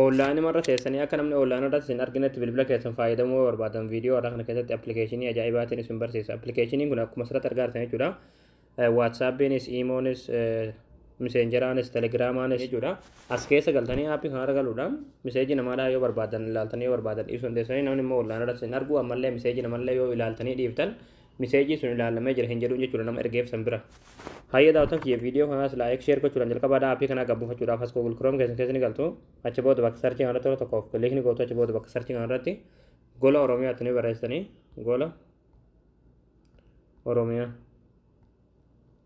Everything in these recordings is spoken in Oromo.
Oonlaayinuma irra teessanii akka namni oonlaayina irratti isin arginetti bilbila keessan fayyadamuu yoo barbaadan viidiyoo har'a kana keessatti appilikeeshinii ajaa'ibaatiin isin barsiisa. Appilikeeshiniin kun akkuma asirratti argaa jirtan jechuudha. Waatsaappiinis, iimoonis, miseenjeraanis, telegiraamaanis jechuudha. As keessa galtanii aappii kanarra galuudhaan miseejii namaadhaa yoo barbaadan ilaaltanii yoo barbaadan dhiisuu dandeessanii namni immoo oonlaayina irratti isin argu ammallee miseejii namallee yoo ilaaltanii dhiiftan miseejii sun ilaalamee jira hin jedhuun jechuudha nama ergeef san bira. Hayyee daawwatan kiyya viidiyoo kanaas laayik sheer gochuudhaan jalqabaa dhaa appii kanaa gabbuufachuudhaaf as Google Chrome keessan keessa ni galtu. Achi booda bakka sarchii kanarratti yeroo tokkoof kiliik ni gootu achi booda bakka sarchii kanarratti gola Oromiyaatti ni barreessitanii gola Oromiyaa.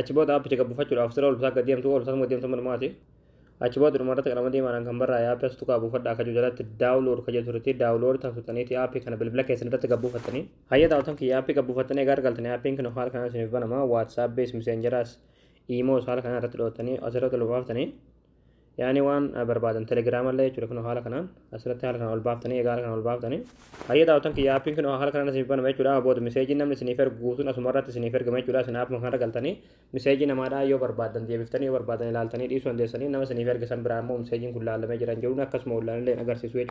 Achi booda aappicha gad buufachuudhaaf sira olbsaa gad deemtuu olbsaas gad deemtuu manumaati. Achi booda dhuma irratti qalama diimaadhaan kan barraa'e aappi as tuqaa buufadhaa kajuu jalatti daawulood kajee turetti daawulood tan tuqxaniiti aappii kana bilbila keessan irratti gad buufattanii. Hayya daawwatan kiyya aappii gad buufattanii egaa argaltanii aappiin kun haala kanaan isiniif banama waatsaappiis miseenjeraas iimoos haala kanaan irratti dho'attanii asirratti olbaaftanii yaani waan barbaadan telegram illee jechuudha kunoo haala kanaan asirratti haala kanaan ol baaftanii egaa haala kanaan ol baaftanii hayya daawwatan kiyya appiin kunoo haala kanaan isiniif banama jechuudha amma booda miseejiin namni isiniif ergu guutuun asuma irratti isiniif ergama jechuudha isin appuma kanarra galtanii miseejii namaadhaa yoo barbaadan deebiftanii yoo barbaadan ilaaltanii dhiisuu dandeessanii nama isiniif erge san biraa immoo miseejiin kun laalamee jiran jedhuun akkasuma ollaan illee agarsiisu jechuudha